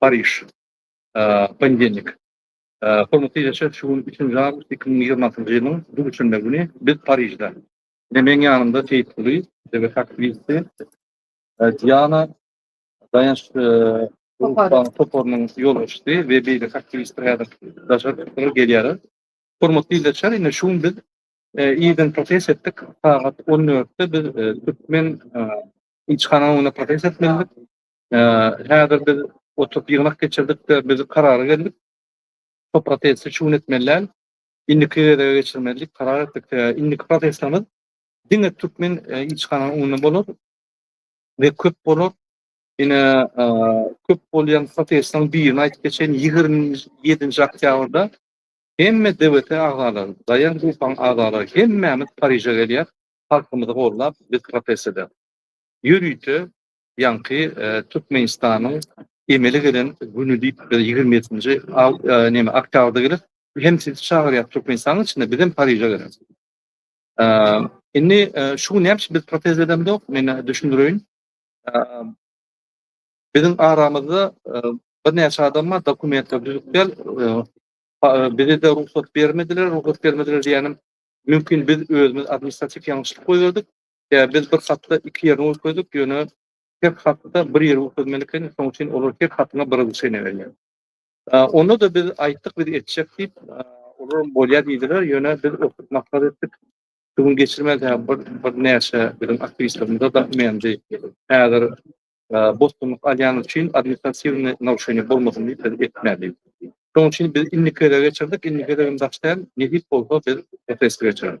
Pariž, ponedельnik. Hormatly ildeşler, şu gün üçünji awgust iki müň ýigrimi altynjy ýylyň duşenbe güni biz Parižde. Ine meň ýanymda Seýitguly, dewlet aktiwisti, Diana, Daýanç toparynyň ýolbaşçysy we beýleki aktiwistler häzir daşary çykdylar, gelýärler. Hormatly ildeşler, ine şu gün biz irden protest etdik. Sagat on dörtde biz türkmen ilçihanasynyň öňünde protest etmelidik. Häzir biz oturyp ýygnak geçirdik-de, biz karara geldik. Şo protesti çuň etmeli däl. Indiki gezege geçirmeli diýip karar etdik. Sebäbi indiki protestimiz diňe türkmen ilçihananyň öňünde bolar we köp bolar. Ine, köp bolýan protestiň birini aýdyp geçeýin. Ýigrimi ýedinji oktýabrda hemme DWT agzalary, Daýan Gruppanyň agzalary hemmämiz Pariže gelýäs, halkymyzy goldap, biz protest edäs. Ýörite Ýaňky Türkmenistanyň emele gelen güni diýip biz ýigrimi ýedinji neme oktýabrda gelip hem sizi çagyrýas Türkmenistanyň içinde biz hem Pariže gelen. Indi şu gün näme üçin biz protest edemzok men düşündireýin. Biziň aramyzda birnäçe adam bar dokumentler düzüp gel bize-de rugsat bermediler, rugsat bermediler diýýänim mümkin biz özümiz administratiw ýalňyşlyk goýberdik. Ýa biz bir hatda iki ýerini görkezdik, ýöne her hatda bir ýeri görkezmeli ekeniň, şonuň üçin olar her hatyňa bir yzyşa inebilýär. Onda-da biz aýtdyk, biz etjek diýip, olaram bolýar diýdiler, ýöne biz oturyp maslahat etdik. Şu gün geçirmeli, birnäçe biziň aktiwistlerimize zat mendi. Häzir bosgunlyk alýany üçin administratiwnyý narušeniýe bolmasyn diýip biz etmeli. Şonuň üçin biz indiki gezege geçirdik, indiki gezegem daş däl, nesip bolsa biz protesti geçireris.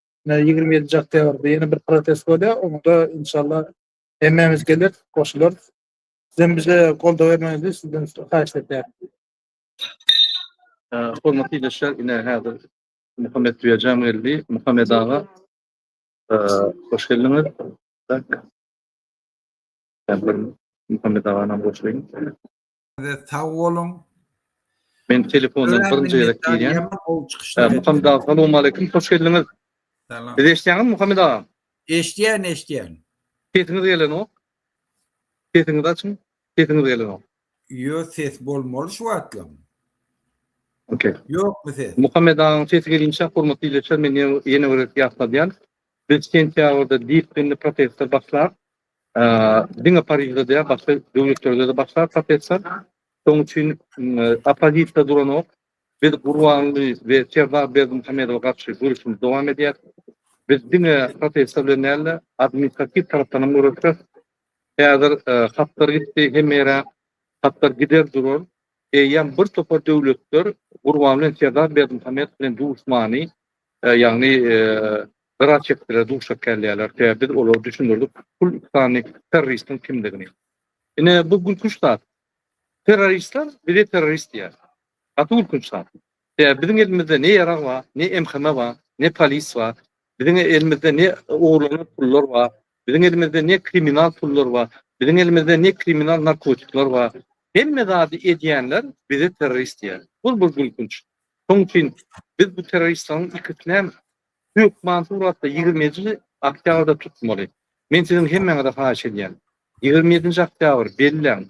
ýigrimi ýedinji oktýabrda ýene bir protest bolýar. Onda inşallah hemmämiz geler, goşular. Sizem bize goldaw bermegiňizi sizden haýyş edýär. Hormatly ildeşler, ine häzir Muhammet Düýejan geldi. Muhammet aga, hoş geldiňiz. Muhammet agany goşulyň. Size sag boluň. Men telefondan birinji gezek girýän. Muhammed aga, salam aleyküm, hoş geldiňiz. Salam. Siz eşitýäňizmi Muhammed aga? Eşitýän, eşitýän. Sesiňiz gelenok. Sesiňizi açyň. Sesiňiz gelenok. Yo ses bolmaly şu wagtlam. Okey. Ýokmy ses? Muhammed agaň sesi gelinçä hormatly dileçer men ýene bir ýatladýan. Biz sentýabrda disiplini protestde başlap, Diňe Parižde däl, başga döwletlerde-de başlar protestler. Şonuň üçin oppozisiýa duranok. Biz Gurbanguly we Serdar Berdimuhamedowa garşy göreşimizi dowam edýäris. Biz diňe protestler bilen däl-de, administratiw tarapdan hem göreşýäris. Häzir hatlar gitdi hemme ýere. Hatlar gider durar. Eýýäm bir topar döwletler Gurban bilen Serdar Berdimuhamedow bilen duşmany, ýagny Gara çetdilere duşak gelýärler, sebäbi biz olara düşündirdik pul üstany terroristiň kimdigini. Ine bu gülkünç zat. Terroristler bize terrorist diýýär. Gaty gülkünç zat. Sebäbi biziň elimizde ne ýarag bar, ne MHM bar, ne polis bar. Biziň elimizde ne ogurlanan pullar bar, biziň elimizde ne kriminal pullar bar, biziň elimizde ne kriminal narkotikler bar. Hemme zady edýänler bize terrorist diýýär. Bu bir gülkünç. Şonuň üçin biz bu terroristleriň ikisinem Hökman suratda ýigrimi ýedi oktýabrda tutmaly. Men siziň hemmäňize haýyş edýän. Ýigrimi ýedinji oktýabr belläň.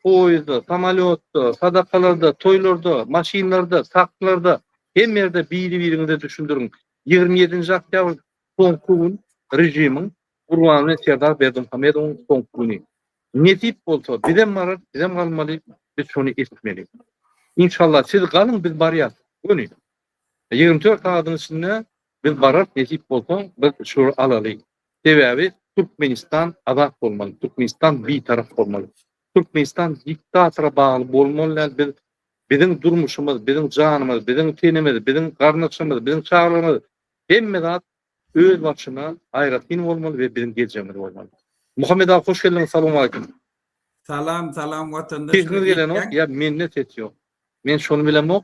Poýezdda, samolýotda, sadakalarda, toýlarda, maşynlarda, tanklarda, hemme ýerde biri-biriňize düşündiriň. Ýigrimi ýedinji oktýabr soňky gün, režimiň, Gurbanguly Serdar Berdimuhamedowyň soňky güni. Nesip bolsa, bizem bararys, bizem galmaly, biz şony etmeli. Inşallah, siz galyň, biz barýas. Göni. Ýigrimi dört sagadyň içinde biz bararys, nesip bolsa, biz şular alaly. Sebäbi Türkmenistan azat bolmaly, Türkmenistan bitarap bolmaly. Türkmenistan diktatora bagly bolmaly däl, biz biziň durmuşymyz, biziň janymyz, biziň tenimiz, biziň garyndaşlarymyz, biziň çagalarymyz hemme zat öz başyna aýratyn bolmaly we biziň geljegimiz bolmaly. Muhammet aga hoş geldiňiz salowmaleýkim. Salam salam watandaşlar. Sesiňiz gelenok ýa mende ses ýok. Men şony bilemok.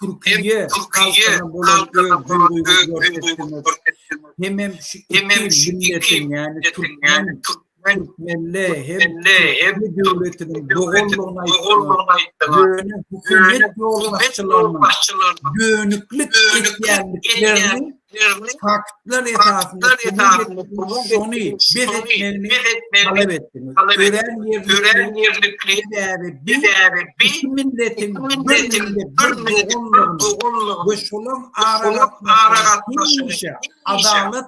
Türkiýe halkyna bolan hemem şu iki milletin, yani Türkmen, Türkmenli hem Türkmenli döwletiniň doganlygyna ýöne hökümet ýolbaşçylarynyň dönüklik etýändiklerini ýagny faktlar esasynda şony bes etmegini talap etdi. Örän ýerlikli sebäbi bi milletiň bir doganlygyny we şolaryň aragatnaşygyny adalat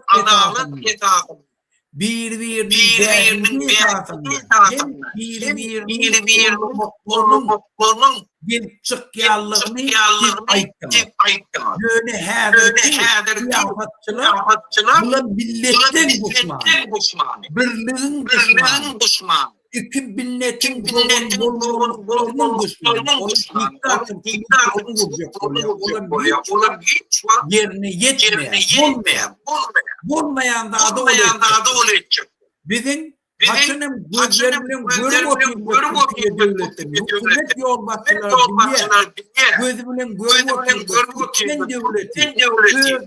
esasynda biri-biriniň bähbidi esasynda hem biri-biriniň horlamaklarynyň gelip çykýandygyny siz aýtdyňyz. Ýöne häzirki syýasatçylar bular milletleň duşmany, birligiň duşmany. iki binnetiň dogan bolmanlyklarynyň duşman, onuň diktatyn, diktatyn gurjak bolýar. Olam bolýar, olam hiç wagt ýerine ýetmeýär. Bolmaýan zada ol etjek. Biziň haçan hem gözler bilen görüp oturjak Türkiýe döwleti, hökümet ýolbaşçylary bilýär. Gözi bilen görüp oturjak türkmen döwleti öz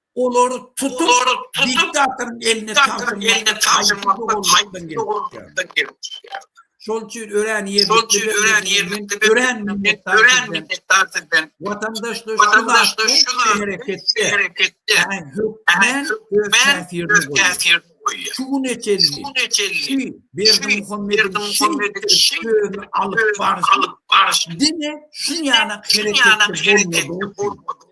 Olar tutup diktatorun eline tapşyrmak bolmakdan gelip çykýar. Şol üçin örän ýerlikli örän minnetdar sizden. Watandaşlar şu hereketde hökmän öz täsirini goýýar. Şu güne çenli Berdimuhamediň şeýdip özüni alyp baryşy diňe şuňa hereketde bolmady.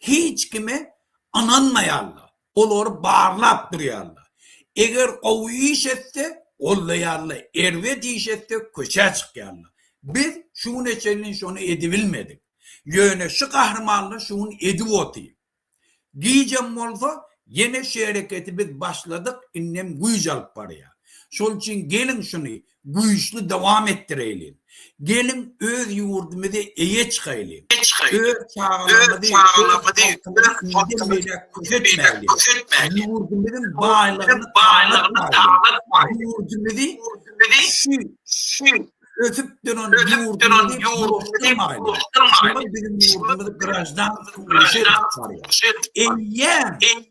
hiç kime ynanmaýarlar, olary barlap durýarlar. Eger gowy iş etse, goldaýarlar, erbet iş etse, köçä çykýarlar. Biz şu güne çenli şony edibilmedik. Ýöne şu gahrymanlar şu gün edip otyr. Gijem bolsa, ýene şu hereketi biz başladyk, indem güýç alyp barýar. Şol üçin geliň şuny güýçli dowam etdireýliň. Geliň öz ýurdumyzy eýe çykaýlyň. Öz çagalarymyzy, öz halkymyzy inden beýläk köşetmäýliň. Ýurdumyzyň baýlygyny talatmaýlyň. Ýurdumyzy şu ösüp duran ýurdumyzy bulaşdyrmaýlyň. Şunda biziň ýurdumyz graždansyz uruşa edip barýar. Eýýäm.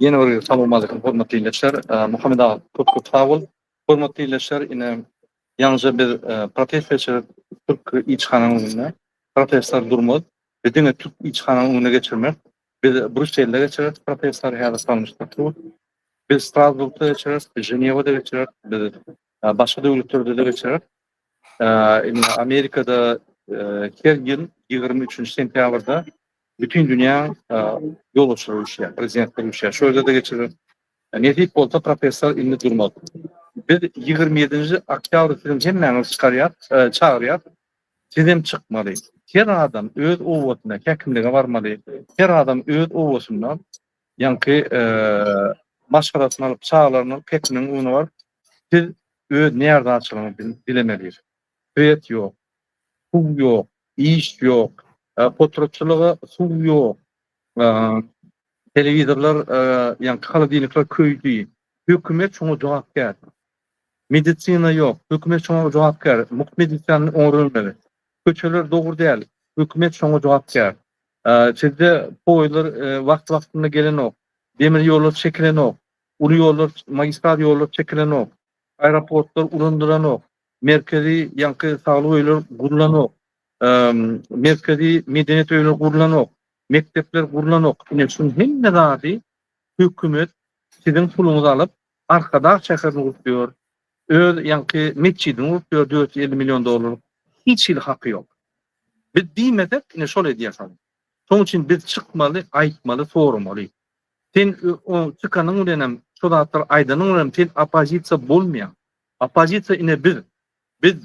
Ýene bir gezek salawmaleýkim hormatly ildeşler. Muhammet aga köp köp sag bol. Hormatly ildeşler ine ýaňyja biz protest geçirip türk ilçihananyň öňünde protestlary durmaz. Biz diňe türk ilçihananyň öňüne geçirmez. Biz Brýusselde geçireris protestlary häzir salnyşdyryp dur. Biz Strasburgda geçireris, biz Ženewada geçireris, biz Ýa başga döwletlerde-de geçirer. Indi Amerikada her ýyl ýigrimi üçünji sentýabrda bütin dünýä ýolbaşçylar uruşýar, prezidentler uruşýar. Şo ýerde-de geçirer. Nesip bolsa professor indi durmaz. Biz ýigrimi ýedinji oktýabr siziň hemmäňizi çykarýar, çagyrýar. Sizem çykmaly. Her adam öz obasyna, häkimlige barmaly. Her adam öz obasynda Ýaňky maşgalasyny alyp çagalarynyň pekiniň uny bar. Siz öz närdäçiligiňizi dilemelidir. Svet ýok, suw ýok, iş ýok, potratçylyga suw ýok, telewizorlar, ýaňky holodilnikler köýdi. Hökümet şoňa jogapkär. Medisina ýok, hökümet şoňa jogapkär. Mugt medisany oňa bermeli. Köçeler dogry däl, hökümet şoňa jogapkär. Sizde poýuzlar wagt-wagtynda gelenok, demir ýollar çekilenok, uly ýollar, magistral ýollar çekilenok, aeroportlar ulandylanok, merkezi ýaňky saglyk öýler gurlanok, merkezi medeniýet öýleri gurlanok, mekdepler gurlanok. Ine şunuň hemme zady hökümet siziň puluňyzy alyp, Arkadag şäherini gurup ýör. Öz ýaňky metjidini gurup ýör dört ýüz elli million dollarlyk. Hiç hili haky ýok. Biz diýmesek ine şol edýäsal. Şoň üçin biz çykmaly, aýtmaly, soramaly. Sen o çykanyň bilenem, şo zatlary aýdanyň bilenem sen oppozisiýa bolmaýaň. Oppozisiýa ine biz. Biz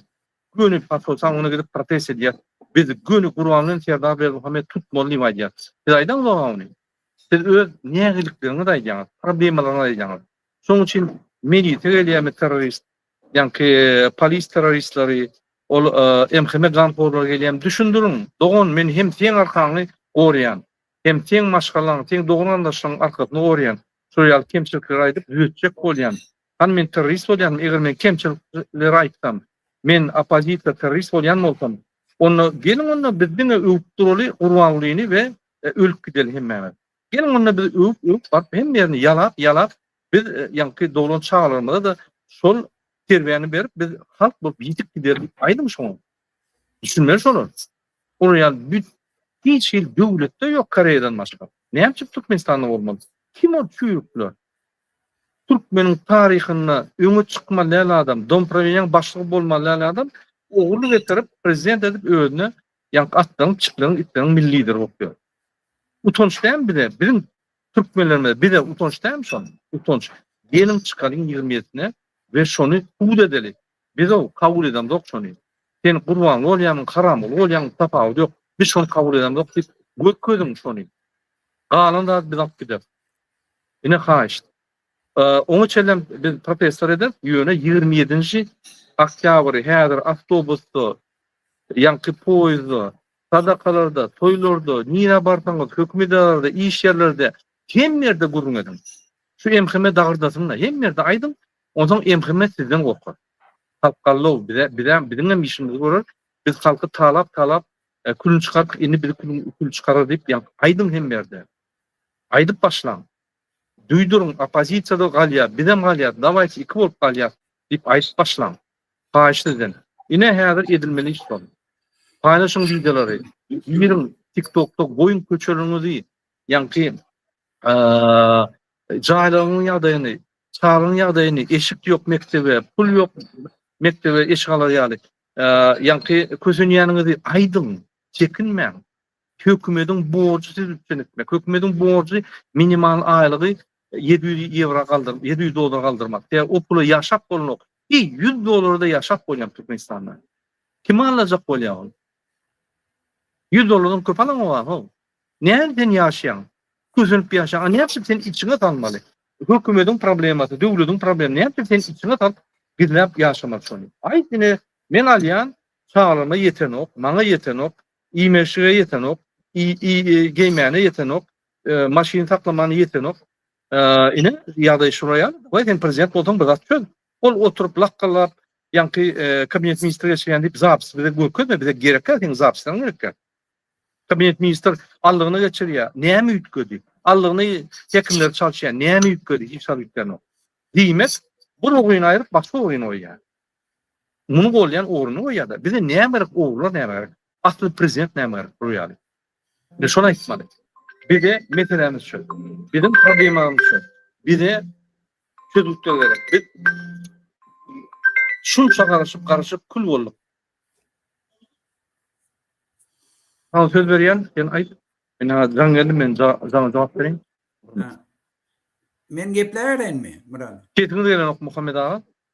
göni Paso saňňyna gidip protest edýäs. Biz göni Gurbanguly bilen Serdar Berdimuhammedi tutmaly diýip aýdýas. Siz aýdaňyz oňa ony. Siz öz nägilikleriňizi aýdýaňyz, problemalaryňyzy aýdýaňyz. Şonuň üçin milisiýa gelýärmi terrorist, ýaňky polis terroristleri, ol MHM ganhorlary gelýärmi düşündiriň. Dogan men hem seň arkaňy gorýan, hem seň maşgalaň, seň dogan-garyndaşlaryň arkasyny gorýan. Şol ýaly kemçilikleri aýdyp düzetjek bolýan. Hany men terrorist bolýanmy eger men kemçilikleri aýtsam, men oppozisiýa terrorist bolýan bolsam, onda geliň onda biz diňe öwüp duraly Gurbangulyny we E, ölüp gideli hemmämiz. Geliň onda biz öwüp öwüp baryp hemme ýerini ýalap ýalap biz e, ýaňky doglan çagalarymyza-da şol terbiýäni berip biz halk bolup ýitip gideris. Aýdyň şoňa. Düşünmeli şolar. Olar ýaly büt hiç hil döwletde ýok Koreýadan başga. Näme üçin Türkmenistanda bolmaly? Kim ol çüýrükler? Türkmeniň taryhynda öňe çykmaly adam, domprowenýaň başlygy bolmaly adam ogurlyk getirip prezident edip özüne Ýaňky atlaryň, pişikleriň, itleriň milli lideri bolup ýör. Utanç dämi bize, biziň türkmenlerimize, bize utanç dämi şol? Utanç. Geliň çykalyň ýigrimi ýedisine we şony subut edeli. Biz-ow kabul edemzok şony. Sen Gurbanly bolýarmyň, Haramguly bolýarmyň tapawudy ýok. Biz şony kabul edemzok diýip görkeziň şony. Galan zady biz alyp gideris. Ine haýyşt. Oňa çenlem biz protestler ederis, ýöne ýigrimi ýedinji oktýabry häzir awtobusda, ýaňky poýezdda, sadakalarda, toýlarda, nirä barsaňyz, hökümi edaralarda, iş ýerlerde, hemme ýerde gürrüň ediň. Şu MHM dagyrdasyn-da, hemme ýerde aýdyň, onsoň MHM sizden gorkar. Halk gallaw, bize, bizem, biziňem işimizi görer, biz halky talap, talap, külüni çykardyk, indi bizi kül, kül çykarar diýip, ýaňky aýdyň hemme ýerde. Aýdyp başlaň. Duýduryň, oppozisiýada galýar, bizem galýas, dawaýçy iki bolup galýas diýip aýdyp başlaň. Haýyş sizden. Ine häzir edilmeli iş bol. Paýlaşyň wideolary, giriň tiktokda goýuň köçeleriňizi, ýaňky jaýlaryňyň ýagdaýyny, çagaň ýagdaýyny, eşik ýok mekdebe, pul ýok mekdebe eşik alar ýaly, ýaňky kösenýäniňizi aýdyň, çekinmäň. Hökümediň borjy siz üpjün etmek. Hökümediň borjy minimal aýlygy ýedi ýüz ýewra galdyr, ýedi ýüz dollara galdyrmak. Sebäbi o pula ýaşap bolanok. Heý, ýüz dollara-da ýaşap bolýar Türkmenistanda. Kim alajak bolýar ony? Ýüz dollardan köp alan bar how? Nädip sen ýaşaýaň? Kösenip ýaşaýaň. A näme üçin sen içiňe salmaly? Hökümediň problemasy, döwletiň problemi. Näme üçin sen içiňe salyp gizläp ýaşamaly şony? Aýt ine, men alýan, çagalama ýetenok, maňa ýetenok. Iýmeşige ýetenok, geýmäne ýetenok, maşyn saklamana ýetenok. Ine, ýagdaý şura ýaly. Dawaý, sen prezident bolsaň, bir zat çöz. Ol oturyp lakgalap, ýaňky kabinet ministri geçirýän diýip, zapis bize görkezme, bize gerek däl, seniň zapisleriň gerek däl. Kabinet ministr allygyna geçirýär, näme üýtgedi? Allygyny hekimler çalyşýar, näme üýtgedi? Hiç zat üýtgänok. Diýmek, bir ugryny aýryp, başga ugryny goýýar. Muny golýan ogruna goýýada bize näme gerek ogrlar näme gerek asly prezident näme gerek bul ýaly. Biz şony aýtmaly. Bize meselämiz şu. Biziň problemamyz şu. Bize çözgütler gerek. Biz şunça garaşyp garaşyp kül bolduk. Al söz berýän, sen aýt. Men ha jaň geldim, men jaňa jogap berin. Men geplärenmi, Murat? Sesiňiz gelenok Muhammed aga.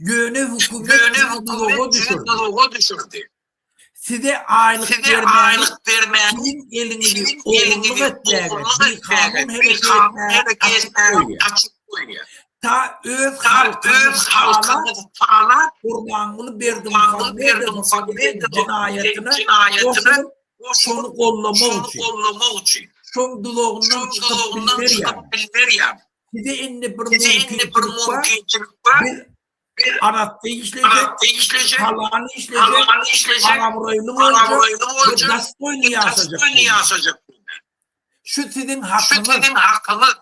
Ýöne hökümet sizi duzaga düşürdi. Size aýlyk bermäni, siziň eliňizi ogurlyk etmäge, bikanun hereket etmäge açyp goýýar. Ta öz halkyňyzy talap, Gurbanguly Berdimuhamedowyň jenaýatyna goşulyp, şony gollamak üçin, şoň duzagyndan çykyp bilmerýärmi? Size indi bir mümkinçilik bar. Biz Arapda işleyecek, Halany işleyecek, Arabroylu olacak, Gastoylu yaşayacak. Şu sizin hakkınız.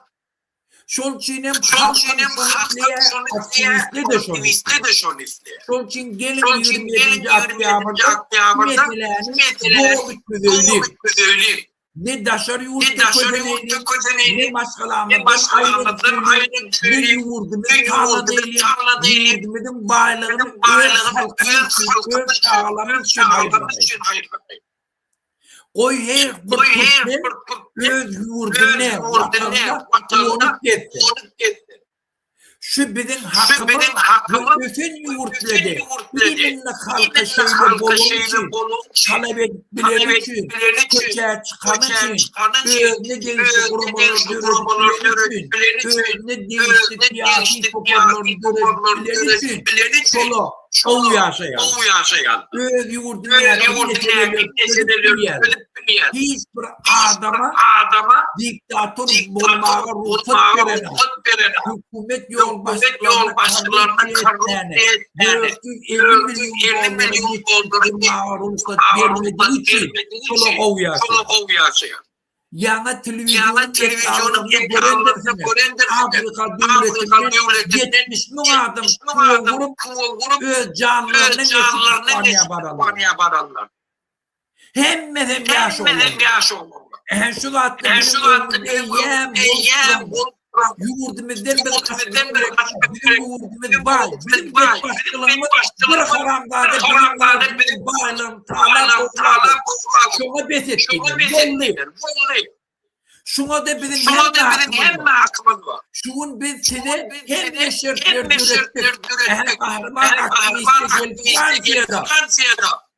Şol üçin hem halklar şonu isteýär, aktiwistler de şonu isteýär. Şol üçin gelin 27 oktýabrda şu meseläni doly çözeli. Ne daşary ýurtda köseneýli, ne maşgalamyzdan aýrylyp, ne ýurdumyzy tanladyýly, ýurdumyzyň baýlygyny öz halkymyz üçin, öz çagalarymyz üçin aýyrmaýly. Goý, her bir türkmen öz ýurdunda, Watanynda doglup-ösdi. Şu biziň hakymyz we ösen ýurtlady ilimli halka şeýle bolany üçin, talap edip bileni üçin, köçä çykany üçin, özüne degişli guramalary döredip bileni üçin, özüne degişli syýasy toparlary döredip bileni üçin, şola gowy ýaşaýarlar. Öz ýurduny nähili meseleler çözüp bilýärler. hiç bir adama adama diktator bolmaga ruhsat beren hökümet ýolbaşçylaryna korrupsiýa etmäni 450 million dollar bermäge ruhsat bermedigi üçin pula gowýaşýar. Ýaňy telewizionyň ekranlarynda görendiňizmi, Afrika döwletinden 70 müň adam pul gurup, öz janlaryny esgitip Ispaniýa bararlar. Hemmesem ýaş oglanlar. Ähli şu zatlar biziň öňümizde eýýäm bolup duran ýurdumyzdan bir gaçmak gerek. Biziň ýurdumyz baý. Biziň döwlet başçylygymyz bir haramzada biziň biziň baýlygymyzy talap talap oýurlar. Şoňa bes et diýdiler. Boldy. Şuňa-da biziň hemme hakymyz bar. Şu gün biz size hemme şertleri döretdik. Ähli gahryman aktiwistler gelip Fransiýada.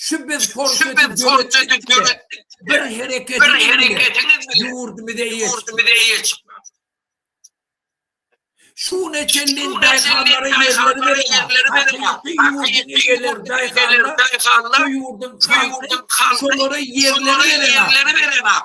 Şu biz porseti döretdik bile, bir hereketiňiz bile ýurdumyza eýe çykmaz. Şu güne çenli daýhanlara ýerleri beremok. Hakyky ýurduň eýeleri daýhanlar, bu ýurduň halky şolara ýerleri beremok.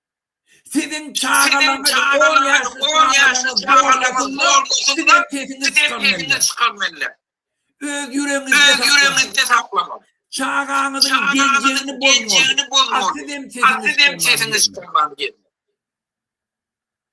Siziň çagalaryňyz on ýaşly çagalaryňyz bolmasyn, sizem sesiňizi çykarmeliler. Öz ýüregiňizde saklamaly. Çagaňyzyň geljegini bozmaly. A sizem sesiňizi çykarmaly.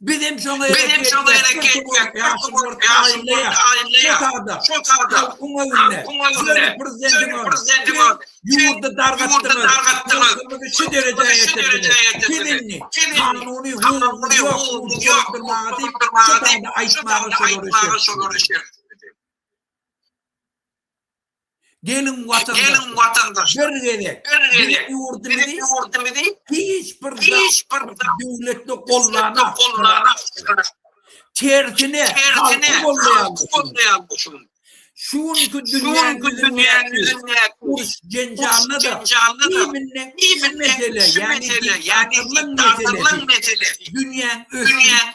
Biz hem şoňa hereket etmek, ýaşy bolsa aýylýar. Şol taýda halkyň öňünde söni prezidentiňe ýurdy dargatdyňyz, şu derejä getirdiňiz. Siz indi kanuny hukugyňyz ýokdugyny dolandyrmaga diýip, şu taýda aýtmaga şolara şert dörediň. Geliň watandaşlar, bir gezek biziň ýurdumyzy hiç bir döwletli gollanok. Tersine, halky goldaýarmyşyn. Şu günki dünýäň ýüzündäki uruş-jenjallada iýminde şu mesele, ýagny diktatorlyk meselesi. Dünýäň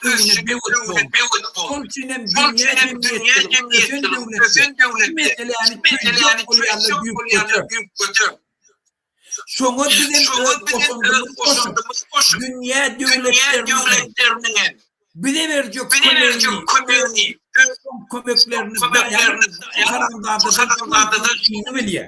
ösüşi döwrüne böwet bol. Şonuň üçin hem dünýä jemgyýetçiligi, ösen döwletler şu meseläni çözýän bolýarlar düýp göter. Şoňa biz hem öz goşandymyzy goşup, dünýä döwletleriniň hem bize berjek kömegini, kömeklerini daýan haramzadalar iňňe bilýär.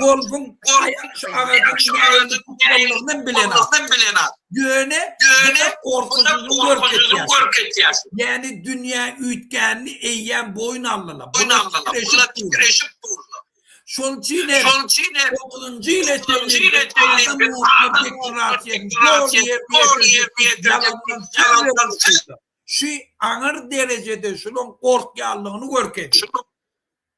Golbuň aýak şu agajyň nädip tutulmagyny bilenok. Ýöne ýöne gorkusyny görkezýär. Ýäni dünýä üýtgänini eýýäm boýun aldylar. Bular titreşip durlar. Şonuň üçin hem şonuň üçin hem 30-njy ýyla çenli şu aňyr derejede şunuň gorkýanlygyny görkezýär.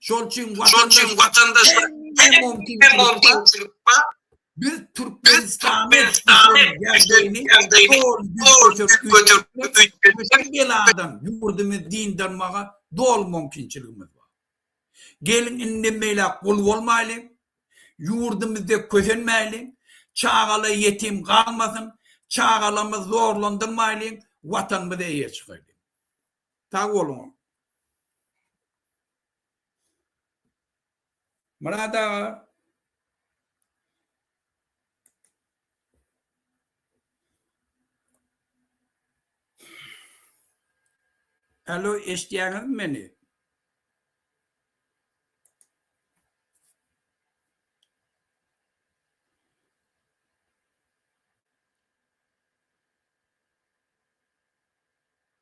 Şol üçin watandaşlar her mümkinçilikde biz Türkmenistany beladan ýurdumyzy dyndarmaga doly mümkinçiligimiz bar. Geliň indi meýle gul bolmaýly, ýurdumyzda kösenmäýli, çagalar ýetim galmasyn, çagalarymyzy zorlandyrmaýly, watanymyza eýe çykaýly. Sag boluň. Myrat aga. Alo eşitýäňizmi meni?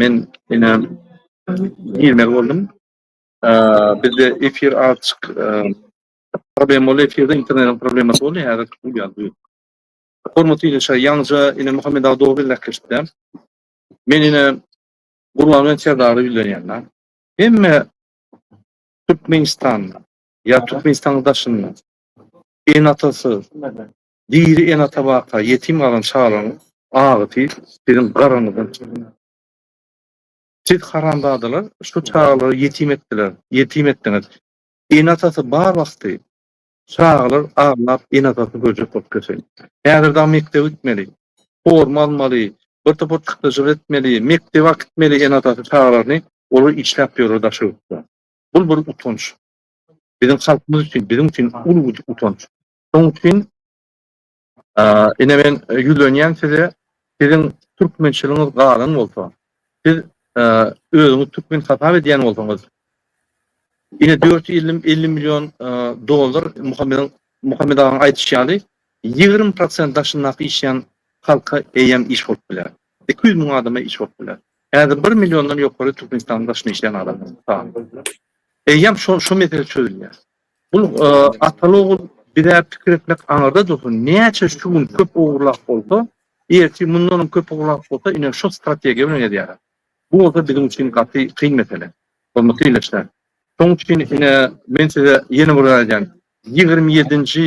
Men ine girmeli boldum. Bizde efir azjyk problem boldy. Efirde internetiň problemasy boldy. Häzir uýa bu. Hormatly ildeşler, ýaňyja ine Muhammet aga dogry gepleşipdi. Men ine Gurban bilen Serdary ýüzlenýän-de. Hemme Türkmenistanda ýa Türkmenistanyň daşynda ene-atasyz, Diri ene-ata barka ýetim galan çagalaryň agysy siziň garanyzdan çykdy. Siz, haramzadalar, şu çagalary ýetim etdiler, ýetim etdiňiz. Ene-atasy bar wagty, çagalar aglap, ene-atasyny görjek bolup getin. Häzir dagy mekdebe gitmeli, forma almaly, bir topar çykdajylar etmeli, mekdebe akitmeli ene-atasy çagalaryny, olar işläp ýörler daşy ýurtda. Bul bir utanç. Biziň halkymyz üçin, biziň üçin uly utanç. Şonuň üçin ine men ýüzlenýän size, siziň türkmençiligiňiz galan bolsa, siz özüňiz türkmen hasap edýän bolsaňyz, ine dört ýüz elli million dollar Muhammediň Muhammet agaň aýdyşy ýaly ýigrimi prosent daşyndaky işleýän halka eýýäm iş bolup biler. Iki ýüz müň adama iş bolup biler. Häzir bir milliondan ýokary Türkmenistanyň daşynda işleýän adam sany. Eýýäm şo şu mesele çözülýär. Bul ataly ogul bizä pikir etmek aňyrda dursun näçe şu gün köp ogurlap bolsa ertir mundanam köp ogurlap bolsa ine şu strategiýa bilen edýäler. Bu bolsa biziň üçin gaty kyn mesele hormatly ildeşler. Şoň üçin ine men size ýene bir zat edýän ýigrimi ýedinji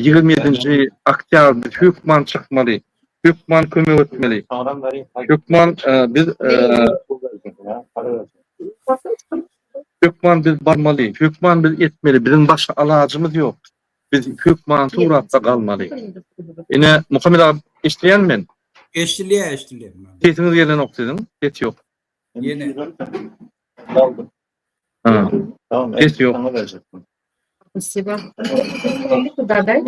ýigrimi ýedinji oktýabr biz hökman çykmaly hökman kömek etmeli hökman biz Hökman biz barmaly, hökman biz etmeli, biziň başga alajymyz ýok. Biz hökman suratda galmaly. Ine, Muhammet aga, eşidýärmi men? Eşidilýär, eşidilýär. Sesiňiz gelenok siziň, ses ýok. Ýene. Galdyk. Ha. Tamam, ses ýok. Saňa berjekdim. Spasiba. Dadaý.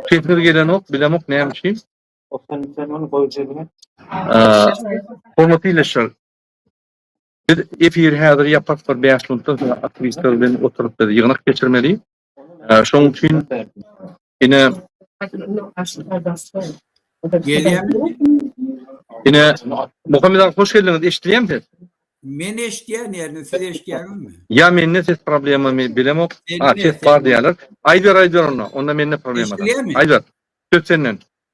Sesiňiz gelenok, bilemok näme üçin. Okan sen ony goý jebine. Hormatly ildeşler. Biz efiri häzir ýapak bir bäş minutdan soň aktiwistler bilen oturyp biz ýygnak geçirmeli. Şoň üçin ine Ine Muhammet aga hoş geldiňiz. Eşidilýärmi ses? Men eşidýän ýerini siz eşidýäňizmi? Ýa mende ses problemami bilemok. Ha ses bar diýýärler. Aýber aýber onda. Onda mende problema. Aýber. Söz senden.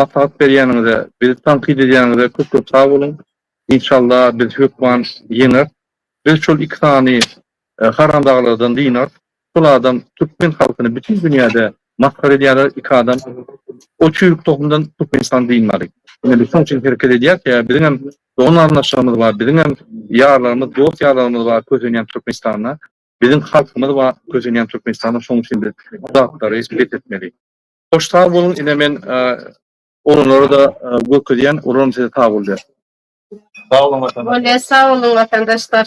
Maslahat berýäniňize, bizi tankyt edýäniňize köp-köp sag boluň. Inşallah biz hökman ýeňeris. Biz şol iki sany Harramdaglylykdan dynar. Pul adam türkmen halkyny bütin dünýäde masgara edýärler iki adam o çüýrük tohumdan türkmenistan dynmady. Ine biz şoň üçin hereket edýäs ýa biziň hem dogan garyndaşlarymyz bar biziň hem ýarlarymyz dost ýarlarymyz bar kösenýän türkmenistana biziň halkymyz bar kösenýän türkmenistana şoň üçin biz bu zatlary bes etmeli. Hoş sag boluň ine men oglanlara da görkezýän olaram size sag bolýar. Sag boluň watandaşlar. Bolýa sag boluň watandaşlar.